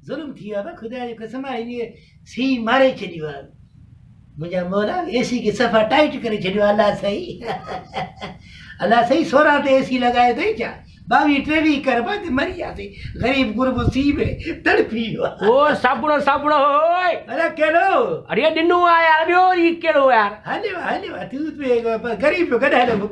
ظلم ٿي ويو خدا جي قسم آهي سي ماري ڇڏيو آهي منهنجا مولا اي سي کي صفا ٽائٽ ڪري ڇڏيو الله سائين الله سائين سورا تي اي سي لڳايو اٿئي ڇا باوي ٽيوي کر بند مري وياسي غريب غرب سي ۾ تڙپي ويو او سابڻو سابڻو اوئي اري ڪهڙو اري ڏنو آ يار ٻيو هي ڪهڙو يار هليو هليو تو به غريب جو گڏ هليو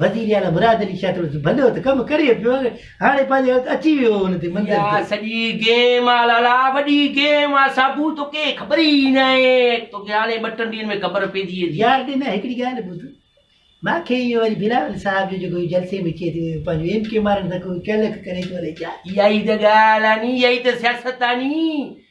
وزير اعليٰ مراد علي شاهه چيو ته ڀلو ته ڪم ڪري پيو آهي، هاڻي پنهنجي وقت اچي ويو هو هن تي منزل اها تي. سڄي گيم آ لالا وڏي گيم آ ساڀو توکي خبر ئي ناهي توکي هاڻي ٻه ٽن ڏينهن ۾ خبر پئجي ويندي. يار ڏنا هڪڙي ڳالهه ٻڌ مان کي اهو وري بلاول صاحب جو جيڪو جلسي ۾ چئي ٿو پنهنجو ايم ڪيو مارڻ تڪو ڪلڪ ڪري ٿو الائي ڇا. اها ئي ته ڳالهه آ ني اها ئي ته سياست آ ني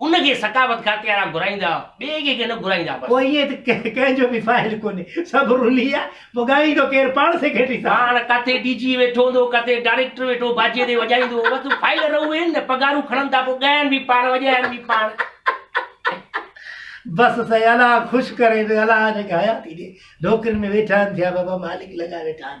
ان کي ثقافت کاتي وارا گهرائيندا ٻئي ڪنهن کي نه گهرائيندا بس. پوء ائين ته ڪنهن جو به فائل ڪونهي سڀ رلي آ پوء ڳائيندو ڪير پاڻ سيڪريٽري صاحب. پاڻ ڪاٿي ڊي جي ويٺو هوندو ڪاٿي ڊائريڪٽر ويٺو باجي تي وڄائيندو بس فائل رهون اهي نه پگهارون کڻن ٿا پوء ڳائن به پاڻ وڄائن به پاڻ. بس سائين الله خوش ڪري ته الله جيڪي حياتي ڏي نوڪرين ۾ ويٺا آهن ٿيا بابا مالڪ لڳا ويٺا آهن